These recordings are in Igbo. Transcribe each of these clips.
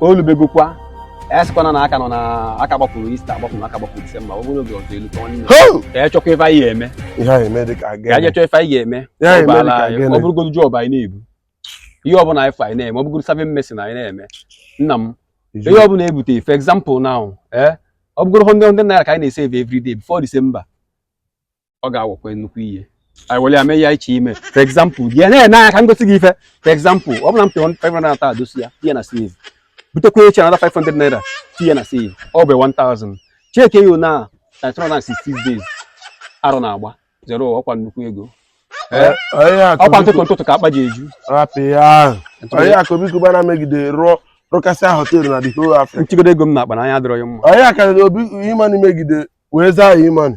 olubegokwa esikwana na aka nọ na aka gbapụrụ Easter gbapụrụ aka gbapụrụ December ọ bụrụ oge ọzọ elu ka ọ nile ka anyị chọkwa ife anyị ga-eme ihe anyị eme dị ka aga ka anyị chọọ ife anyị ga-eme Ihe anyị eme dị ka aga ọ bụrụgodu job anyị na-ebu ihe ọbụla ife anyị na-eme ọ bụgoro serving mason anyị na-eme nna m ihe ọbụla ebute for example now ee ọ bụgoro 100 naira ka anyị na-esave every day before December ọ ga-awụkwa nnukwu ihe anyị were ya mee ya iche ime for example gị na-ene anya ka m gosi gị ife for example ọ bụrụ na m pịọ 500 naira taa dosi ya tinye na save butekwa echi another 500 naira tinye na save ọ bụ 1000 checkie ya na 360 days arọ na-agba zero ọkwa nnukwu ego Eh, onye akụ ọkwa ntụtụ biko- ntụtụ ka akpa ji eju rapụ ya ahụ. onye akụ biko bana megide rụọ rụkasịa họteelụ na the whole Africa nchigodo ego m na-akpa na anya adịrọ ya mma onye akarịrị obi imani megide wee zaa ya imani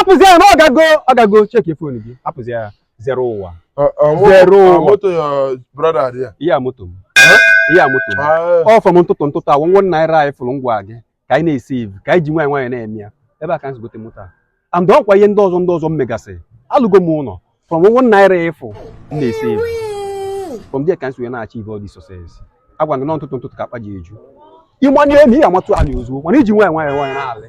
hapụzi ya na ọ gago ọ gago checkie phone gị hapụzi ya zero ụwa zero ụwa ihe a moto m ihe a moto m ọ from ntụtụ ntụtụ a one naira anyị fụrụ m gwa gị ka anyị na-esave ka anyị ji nwayọ nwayọ na-eme ya ebe a ka anyị si gote moto a and ọkwa ihe ndị ọzọ ndị ọzọ m megasị alụgo m ụlọ from one naira ị fụ m na-esave from there ka anyị si wee na-achieve all this success agwa gị na ntụtụ ntụtụ ka akpa ji eju ị manye elu ị ya-amatụ ala ozugbo mana i ji nwayọ nwayọ nwayọ na-alị